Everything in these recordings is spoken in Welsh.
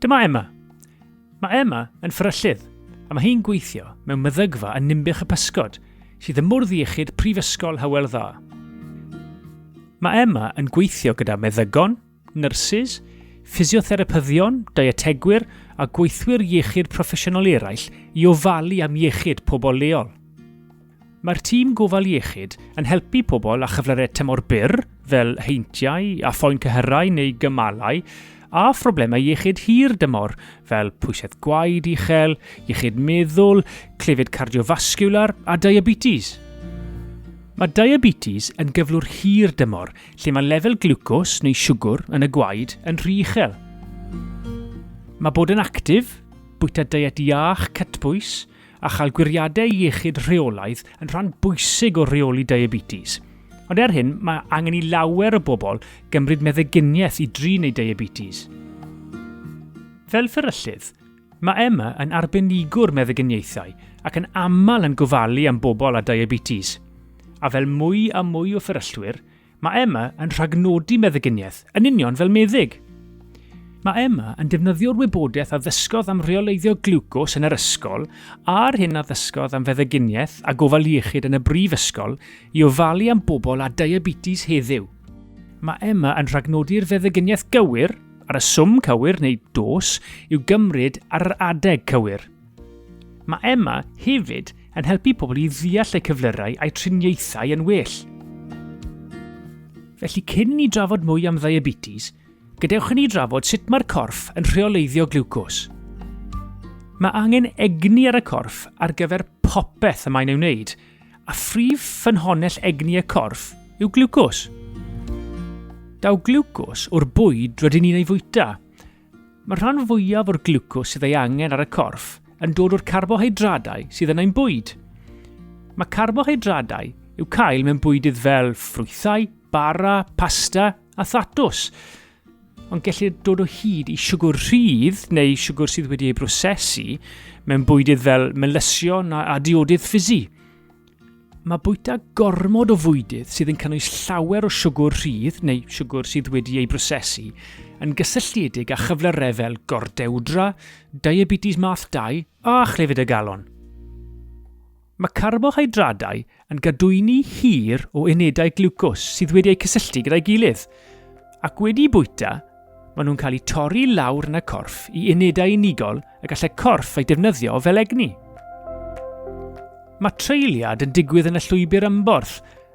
Dyma Emma. Mae Emma yn ffryllydd, a mae hi'n gweithio mewn meddygfa yn Nimbych y Pysgod, sydd ym mwrdd iechyd Prifysgol Hywel Dda. Mae Emma yn gweithio gyda meddygon, nyrsys, ffisiotherapyddion, dietegwyr a gweithwyr iechyd proffesiynol eraill i ofalu am iechyd pobl leol. Mae'r tîm gofal iechyd yn helpu pobl â chyflyrau tymor byr, fel heintiau a phoen cyhyrau neu gymalau, a phroblemau iechyd hir dymor, fel pwysedd gwaed uchel, iechyd meddwl, clefyd cardiofasgiwlar a diabetes. Mae diabetes yn gyflwr hir dymor lle mae lefel glwcos neu siwgr yn y gwaed yn rhy uchel. Mae bod yn actif, bwyta diet iach, cytbwys, a chael gwiriadau iechyd rheolaidd yn rhan bwysig o reoli diabetes. Ond er hyn, mae angen i lawer o bobl gymryd meddyginiaeth i drin eu diabetes. Fel fferyllydd, Mae Emma yn arbenigwr meddyginiaethau ac yn aml yn gofalu am bobl â diabetes. A fel mwy a mwy o fferyllwyr, mae Emma yn rhagnodi meddyginiaeth yn union fel meddyg. Mae Emma yn defnyddio'r wybodaeth a ddysgodd am reoleiddio gliwcos yn yr ysgol a'r hyn a ddysgodd am feddyginiaeth a gofal iechyd yn y brifysgol i ofalu am bobl â diabetes heddiw. Mae Emma yn rhagnodi'r feddyginiaeth gywir, ar y swm cywir neu dos i'w gymryd ar yr adeg cywir. Mae Emma hefyd yn helpu pobl i ddeall eu cyflyrau a'u triniaethau yn well. Felly cyn ni drafod mwy am ddiabetes, gadewch i ni drafod sut mae'r corff yn rheoleiddio glucose. Mae angen egni ar y corff ar gyfer popeth y mae'n ei wneud, A phrif ffynhonnell egni y corff yw glwcos. Daw glwcos o'r bwyd rydyn ni'n ei fwyta. Mae'r rhan fwyaf o'r glwcos sydd ei angen ar y corff yn dod o'r carbohydradau sydd yn ein bwyd. Mae carbohydradau i'w cael mewn bwydydd fel ffrwythau, bara, pasta a thatws. ond gellir dod o hyd i siwgr rhydd neu siwgr sydd wedi ei brosesu mewn bwydydd fel melysion a, a diodydd ffisu. Mae bwyta gormod o fwydydd sydd yn cynnwys llawer o siwgr rhydd neu siwgr sydd wedi ei brosesu yn gysylltiedig â chyflyrau fel gordewdra, diabetes math 2 a chlefyd y galon. Mae carbohydradau yn gadwyni hir o unedau glwcos sydd wedi eu cysylltu gyda'i gilydd, ac wedi bwyta, maen nhw'n cael eu torri lawr yn y corff i unedau unigol y gallai corff eu defnyddio fel egni. Mae treuliad yn digwydd yn y llwybr ymborth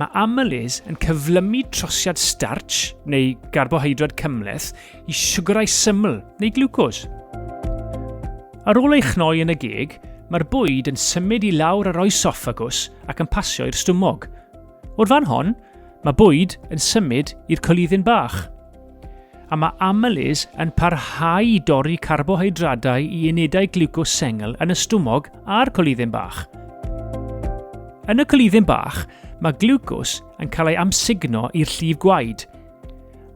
Mae amylase yn cyflymu trosiad starch neu garbohydrad cymhleth i siwgyrau syml neu glwcos. Ar ôl ei chnoi yn y geg, mae'r bwyd yn symud i lawr yr oesoffagws ac yn pasio i'r stumog. O'r fan hon, mae bwyd yn symud i'r coluddyn bach. a mae amylys yn parhau i dorri carbohydradau i unedau gliwcos sengl yn y stumog a'r colidden bach. Yn y colidden bach, mae gliwcos yn cael ei amsugno i'r llif gwaed.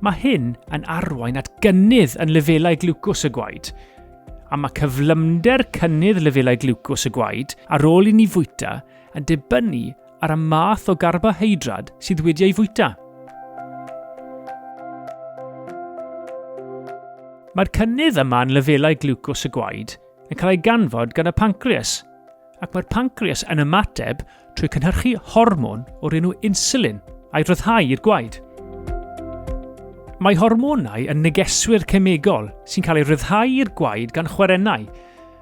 Mae hyn yn arwain at gynnydd yn lefelau gliwcos y gwaed, a mae cyflymder cynnydd lefelau gliwcos y gwaed ar ôl i ni fwyta yn dibynnu ar y math o garboheidrad sydd wedi ei fwyta. Mae'r cynnydd yma yn lefelau glwcos y gwaed yn cael ei ganfod gan y pancreas, ac mae'r pancreas yn ymateb trwy cynhyrchu hormon o'r enw insulin a'i ryddhau i'r gwaed. Mae hormonau yn negeswyr cemegol sy'n cael ei ryddhau i'r gwaed gan chwerennau,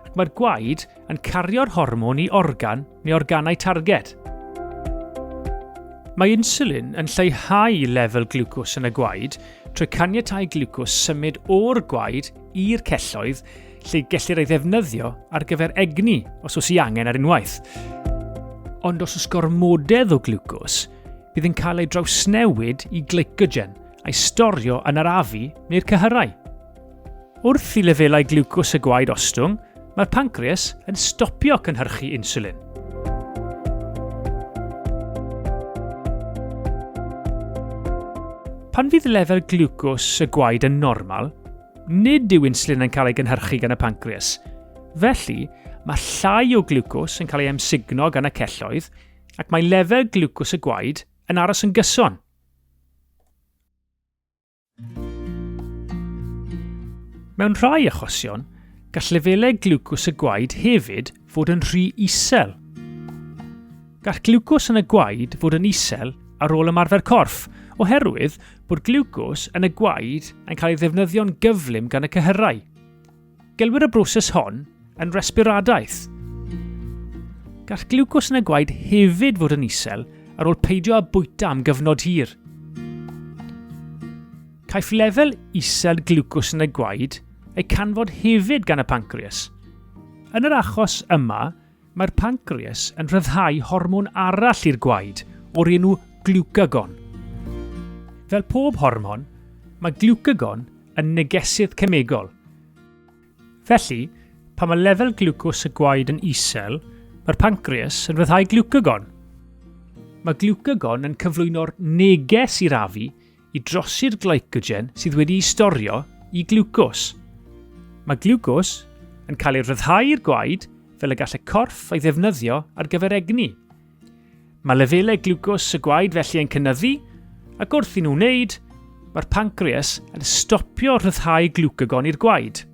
ac mae'r gwaed yn cario'r hormon i organ neu organau targed. Mae insulin yn lleihau lefel glwcos yn y gwaed trwy caniatau glwcos symud o'r gwaed i'r celloedd lle gellir ei ddefnyddio ar gyfer egni os oes i angen ar unwaith. Ond os oes gormodedd o glwcos, bydd yn cael ei drawsnewid i glycogen a'i storio yn yr afu neu'r cyhyrau. Wrth i lefelau gliwcws y gwaed ostwng, mae'r pancreas yn stopio cynhyrchu inswlin. Pan fydd lefel gliwcws y gwaed yn normal, nid yw insulin yn cael ei gynhyrchu gan y pancreas. Felly, mae llai o gliwcws yn cael ei emsugno gan y celloedd ac mae lefel gliwcws y gwaed yn aros yn gyson. Mewn rhai achosion, gall lefelau glwcws y gwaed hefyd fod yn rhy isel. Gall glwcws yn y gwaed fod yn isel ar ôl ymarfer corff, oherwydd bod glwcws yn y gwaed yn cael ei ddefnyddio'n gyflym gan y cyhyrau. Gelwir y broses hon yn resbiradaeth. Gall gliwcos yn y gwaed hefyd fod yn isel ar ôl peidio â bwyta am gyfnod hir. Caiff lefel isel gliwcos yn y gwaed ei canfod hefyd gan y pancreas. Yn yr achos yma, Mae'r pancreas yn rhyddhau hormon arall i'r gwaed o'r enw glwcagon. Fel pob hormon, mae glwcagon yn negesydd cemegol. Felly, pan mae lefel glwcos y gwaed yn isel, mae'r pancreas yn rhyddhau glwcagon. Mae glwcagon yn cyflwyno'r neges i'r afu i drosi'r glycogen sydd wedi'i storio i glwcos. Mae glwcos yn cael ei ryddhau i'r gwaed fel y gall y corff ei ddefnyddio ar gyfer egni. Mae lefelau glwcos y gwaed felly yn cynnyddu ac wrth i nhw wneud, mae'r pancreas yn stopio rhyddhau glwcagon i'r gwaed.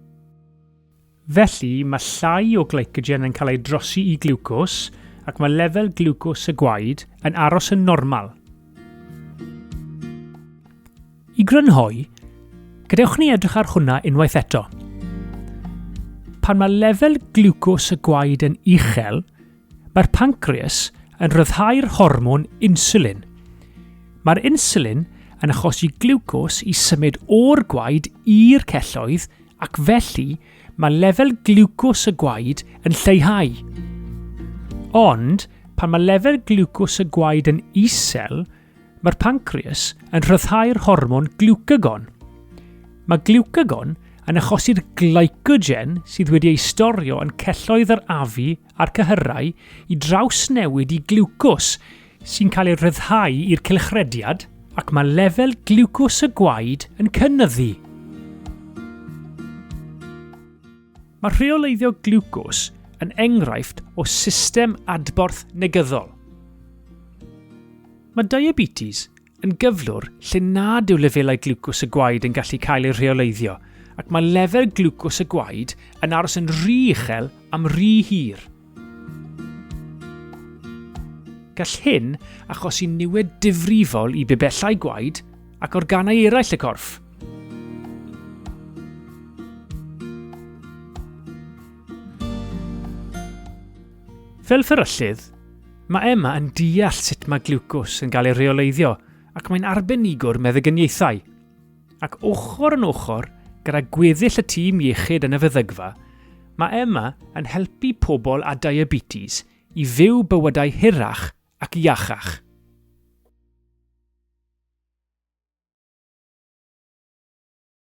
Felly, mae llai o glycogen yn cael ei drosi i gliwcos ac mae lefel gliwcos y gwaed yn aros yn normal. I grynhoi, gadewch ni edrych ar hwnna unwaith eto. Pan mae lefel gliwcos y gwaed yn uchel, Mae'r pancreas yn rhyddhau'r hormon inswlin. Mae'r inswlin yn achosi gliwcos i symud o'r gwaed i'r celloedd ac felly mae lefel gliwcos y gwaed yn lleihau. Ond pan mae lefel gliwcos y gwaed yn isel, mae'r pancreas yn rhyddhau'r hormon gliwcagon. Mae gliwcagon yn achosi'r glycogen sydd wedi ei storio yn celloedd yr afu a'r cyhyrau i drawsnewid i gliwcos sy'n cael ei ryddhau i'r cylchrediad ac mae lefel gliwcos y gwaed yn cynyddu. Mae rheoleiddio gliwcos yn enghraifft o system adborth negyddol. Mae diabetes yn gyflwr lle nad yw lefelau glwcws y gwaed yn gallu cael eu rheoleiddio ac mae lefel glwcws y gwaed yn aros yn rhy uchel am rhy hir. Gall hyn achosi niwed difrifol i bibellau gwaed ac organau eraill y corff. Fel fferyllydd, Mae Emma yn deall sut mae gliwcws yn cael ei reoleiddio ac mae'n arbenigwr meddygyniaethau. Ac ochr yn ochr gyda gweddill y tîm iechyd yn y feddygfa, mae Emma yn helpu pobl â diabetes i fyw bywydau hirach ac iachach.